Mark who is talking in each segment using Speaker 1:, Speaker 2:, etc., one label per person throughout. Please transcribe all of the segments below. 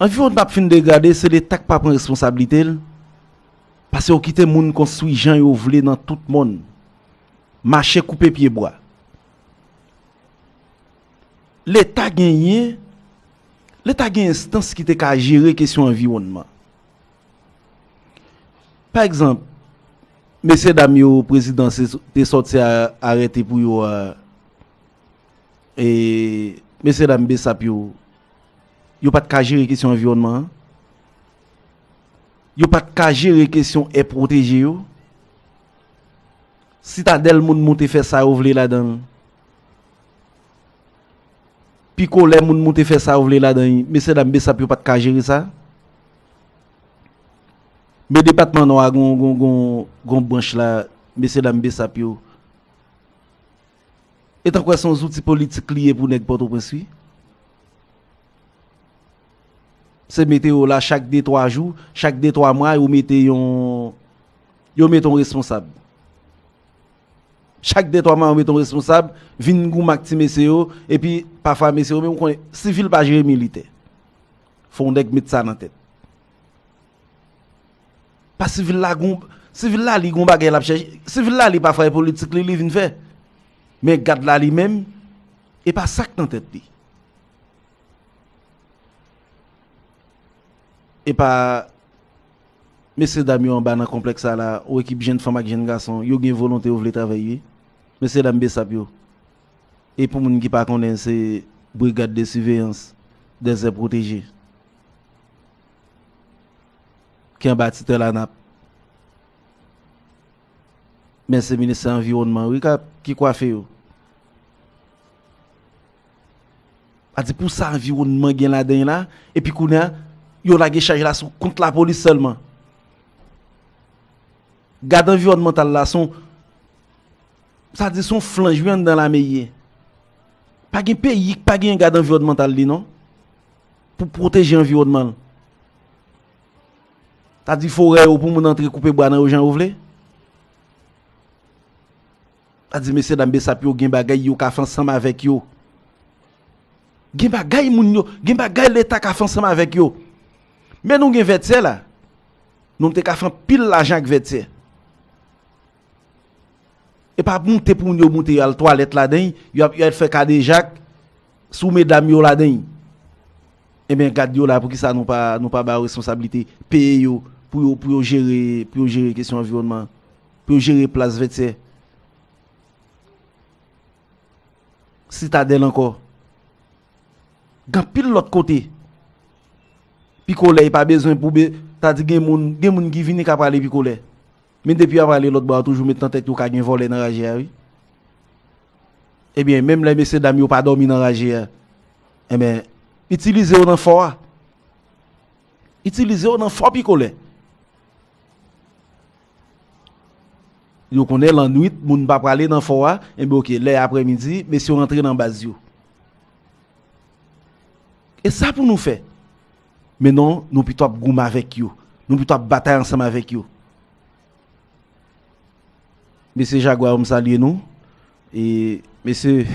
Speaker 1: Anviwonn ap fin degrade se leta ki pa pran responsabilite l pase yo kite moun konstwi jan yo vle nan tout mòn mache koupe pye bwa leta genyen leta gen enstans ki te ka jere kesyon anviwònman pa egzanp mesye dam yo prezidan te sòti arete pou yo a. E mesye dam bsap yo, yo pat ka jere kesyon anviwònman an? Yo pat ka jere kesyon è pwoteje yo? Sitadèl moun moute fè sa yo vle ladan l. Pikolè moun moute fè sa yo vle ladan l. Mesye dam bsap yo pat ka jere sa? Men depatman nò a gon branch la mesye dam bsap yo. E ta kwè son zouti politik li ye pou nèg pòtoprens wi. Se mete yo la chak de twa jou, chak de twa mwa yo mete yon yo mete yon responsab. Chak de twa mwa yo mete yon responsab, vin goumen ak ti mesye yo, epi pafwa mesye yo menm konnen sivil pa jere militè. Fon nèg met sa nan tèt. Pa sivil la gon, sivil la li gon bagay lap chèche, sivil la li pa fè politik li li vin fè. Men gad la li menm, e pa sak nan tèt li. E pa, mesye dam yo anba nan konplèks sa la, ou ekip jenn fanm ak jenn gason, yo gen volonte yo vle travèy wi. Mesye dam besap yo. E pou moun ki pa konnen se brigad de siveyans dezè pwoteje. ki anba titèl ANAP. Men se ministè anviwònman wi ki kwafe yo. A di pou sa anviwònman gen ladan la, epi kounye a, yo lage chaj la sou kont lapolis sèlman. Gad anviwònmantal la son, sa di son flanj wi anndan lame ye. Pa gen peyi ki pa gen gad anviwònmantal li non. Pou pwoteje anviwònman l. Ta di forè yo pou moun antre koupe bwa nan yo jan yo vle. Ta di mesye dam besap yo gen bagay yo ka fè ansanm avèk yo. Gen bagay moun yo, gen bagay leta ka fè ansanm avèk yo. Men nou gen vètyè la. Nou te ka fè anpil lajan ak vètyè. E pa moute pou moun yo moute yo al twalèt ladan y, yo ap fè kadejak sou medam yo ladan y. Enben gad yo la pou ki sa nou pa ba yo responsablite, peye yo pou yo jere kesyon anviwònman, pou yo jere plas vètyè. Sitadèl ankò. Gan pil lòt kote. Pikolè y pa bezwen pou be, ta di gen moun ki vini ka prale pikolè. Men depi yap ale lòt bò a toujou met nan tèt yo ka gen vòlè nan raje a wi. Ebyen menm lè mesye dam yo pa dòmi nan raje a enben itilize yo nan fò a. Itilize yo nan fò pikolè. Yo konnen lannwit moun pa prale nan fò a enben ok lè aprè midi mesye yo rantre nan baz yo. E sa pou nou fè. Men non, nou pito ap goumen avèk yo. Nou pito ap batay ansanm avèk yo. Mesye Jagwa yo m salye nou. E mesye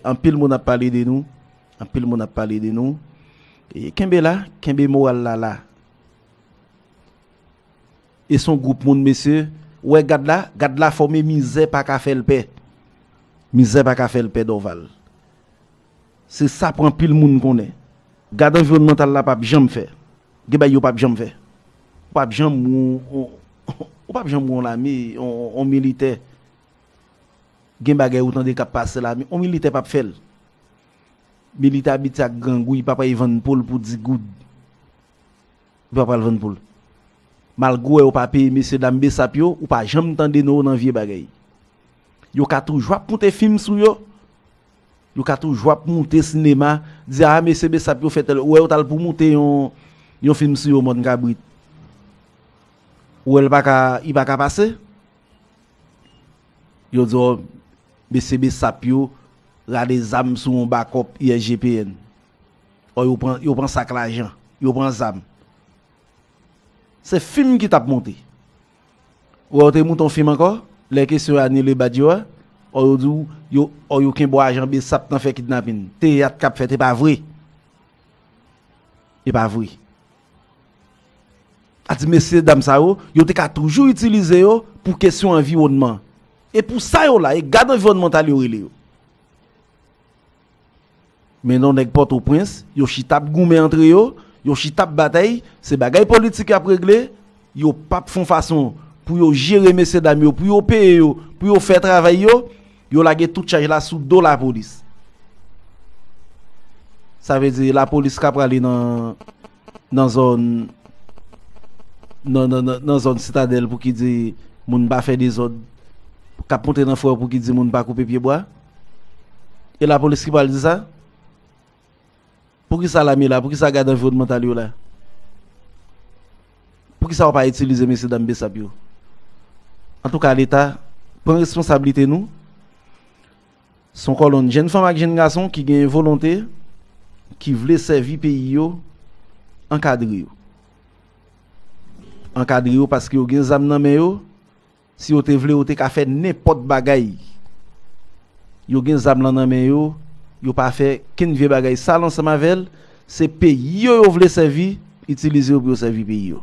Speaker 1: anpil moun ap pale de nou. Anpil moun ap pale de nou. E kenbe la, kenbe moral la la. E son group moun mesye. Ou wè gad la, gad la fòme mizè pa ka fèl pè. Mizè pa ka fèl pè Dorval. Se sa pou anpil moun konnen. Gad anviwònmantal la pap janm fè. Gen bagay yo pap janm fè. Ou pap janm wè yon, ou pap janm wè yon lame, yon militè. Gen bagay ou tande k ap pase lame, yon militè pap fè l. Militè abitye ak grangou, li pa pral vann po l pou 10 goud. Li pa pral vann po l. Malgre ou wè yo pa peye mesye dam besap yo, ou pa janm tande non yo nan vye bagay. Yo ka toujou ap konte fim sou yo, Yo ka toujou ap moute sinema, di a mesye besap yo fè tèl, ou wè yo tal pou moute yon yon film sou yo mòn kabrit. Ou wèl paka li paka pase? Yo di w mesye besap yo rale zam sou yon bakòp ISGPN. Ò yo pran yo pran sak lajan, yo pran zam. Se film ki tap moute. Ou wè ou te mouton fim ankò lè kesyon anile badge yo a or yo diw yo or yo kenbe w a jan besap nan fè kidnapin. Teyat kap fèt epa vre. Epa vre. A di mesye dam sa yo, yo te ka toujou itilize yo pou kesyon anviwònman. E pou sa yo la e gad anviwònmantal yo rele yo. Men non nèg Pòtoprens, yo chita ap goumen antre yo, yo chita ap batay, se bagay politik y ap regle, yo p ap fon fason pou yo jere mesye dam yo, pou yo peye yo, pou yo fè travay yo, yo lage tout chaj la sou do lapolis. Sa vle di lapolis ka prale nan. nan zòn nan zòn sitadèl pou ki di moun pa fè dezòd k ap monte nan fò pou ki di moun pa koupe pyebwa e lapolis ki pral di sa pou ki sa lame la pou ki sa gad anviwònmantal yo la pou ki sa yo pa itilize mesye dam bsap yo antouka leta pran responsabilite nou. Se yon kòlonn jenn fanm ak jenn gason ki genyen volonte, ki vle sèvi peyi yo, ankadre yo. Ankadre yo paske yo gen zam nan men yo, si yo te vle yo te ka fè nenpòt bagay. Yo gen zam lan nan men yo, yo pa fè kenn vye bagay sal ansanm avè l, se peyi yo yo vle sèvi, itilize yo pou yo sèvi peyi yo.